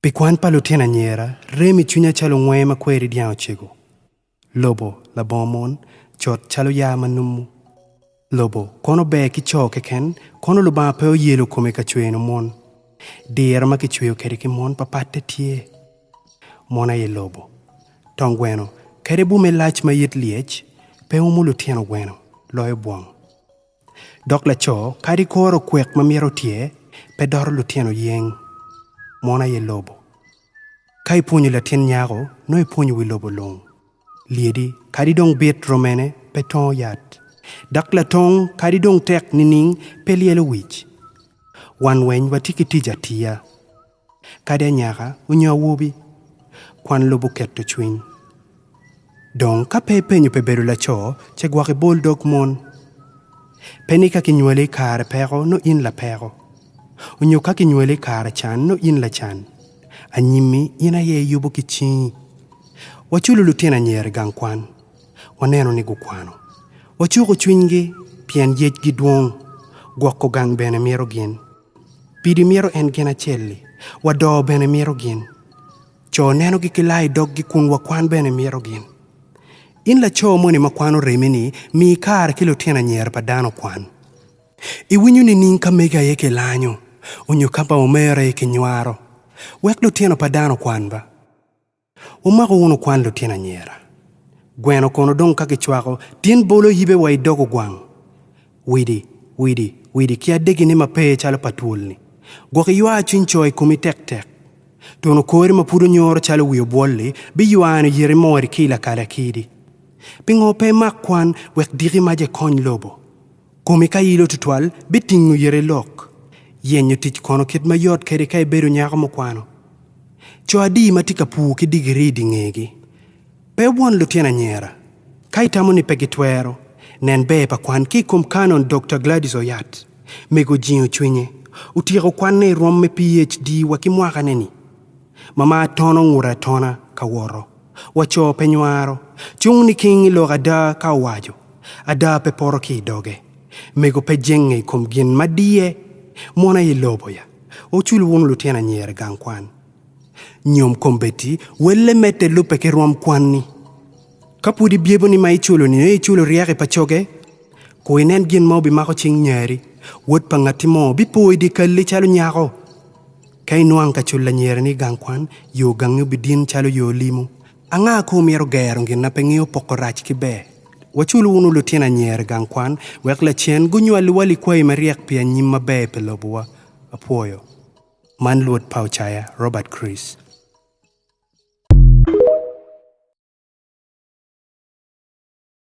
Pi kwan pa lutino anyira, rem i cwinya calo ngwee ma kweri dyang ocego. Lobo, labongo mon, cot calo yaa ma numu. Lobo kono ber ki co keken, kono Lubanga pe oyelo kome ka cweno mon. Diro ma kicweyo kede ki mon pa patte tye. Mon aye lobo. Tong gweno kede bume lac ma it lyec pe umu lutino gweno loyo bwang. Dok laco kadi koro kwek ma myero otye pe doro lutino yeng, mono aye lobo. Ka ipwonyo latin nyako, nongo ipwonyo wi lobo lung. Lyedi kadi dong bit romene pe tongo yat, dok latong kadi dong tek nining pe lyelo wic. Wan weny watye ki tic atiya. Kadi anyaka onyo awobi, kwan lubo keto cwiny. Dong ka pe ipenyo pi bedo laco, ce gwok ibol dog mon. Pe ni ka kinywali i kare peko nongo in lapeko, onyo ka kinywali i kare can nongo in lacan. Anyimmi in aye iyubo ki cingi. Waculo lutino anyira i gang kwan, waneno ni gukwano. Wacuko cwinygi pien yecgi dwong, gwoko gang bene mito gin. Pidi mito en gin acel-li, wa do bene mito gin. Co nenogi ki laa i doggi kun wa kwan bene mito gin. In laco moni ma kwano remini, mi kare ki lutino anyira pa dano okwan. I winyo nining ka megi aye ki lanyo, onyo ka ba omere aye ki nywaro, wek lutino pa dano okwan ba? Wumako wunu kwan lutino anyira. Gweno kono dong ka gicwako, tin bolo yibe wa i dog ogwang? Widi, widi, widi ki adegine ma pe calo pa twol-ni, gwok iywa cwiny co i komi tek tek. Tunu kori ma pud onyoro calo wi obwol-li biywano yiti mori ki i lakali akidi. Pingo pe imak kwan wek diki maca ikony lobo? Komi ka ilo tutwal bitingo yeti lok. Yenyo tic kono kit ma yot kede ka ibedo nyako mukwano? Co adi ma tye ka pur ki digiri i di ngegi? Pe wubwon lutino anyera. Ka itamo ni pe gitwero, nen ber pa kwan ki i kom Canon Dokta Gladys Oyat. Mego ojingo cwinye. Otyeko kwanne i rwom me PHD wa ki mwakane-ni. ma ma tono ngute atona ka woto, wa co pe nywaro, cung niking i lok ada ka owaco, ada pe poto ki i doge, mego pe jenge i kom gin ma diye, mon aye lobo ya, wucul wunu lutino anyira i gang kwan, nyom kombeddi welle medde lubbe ki rwom kwanni. Ka pud ibyebo ni ma iculo nino iculo ryeki pa coge, ku inen gin ma obimako cing nyari, wod pa ngatti mo bipo i dye kalli calo nyako, Ka inwang ka cul lanyereni i gang kwan, yo gangi obidin calo yo limo. Anga ko omyero gero gin na pe ngeyo poko rac ki ber? Wacul wunu lutino anyira i gang kwan wek lacen gunywaliwa likwayi maryek pi anyim maber pi lobowa. Apwoyo. Man luot pa Ocaya, Robert Chris.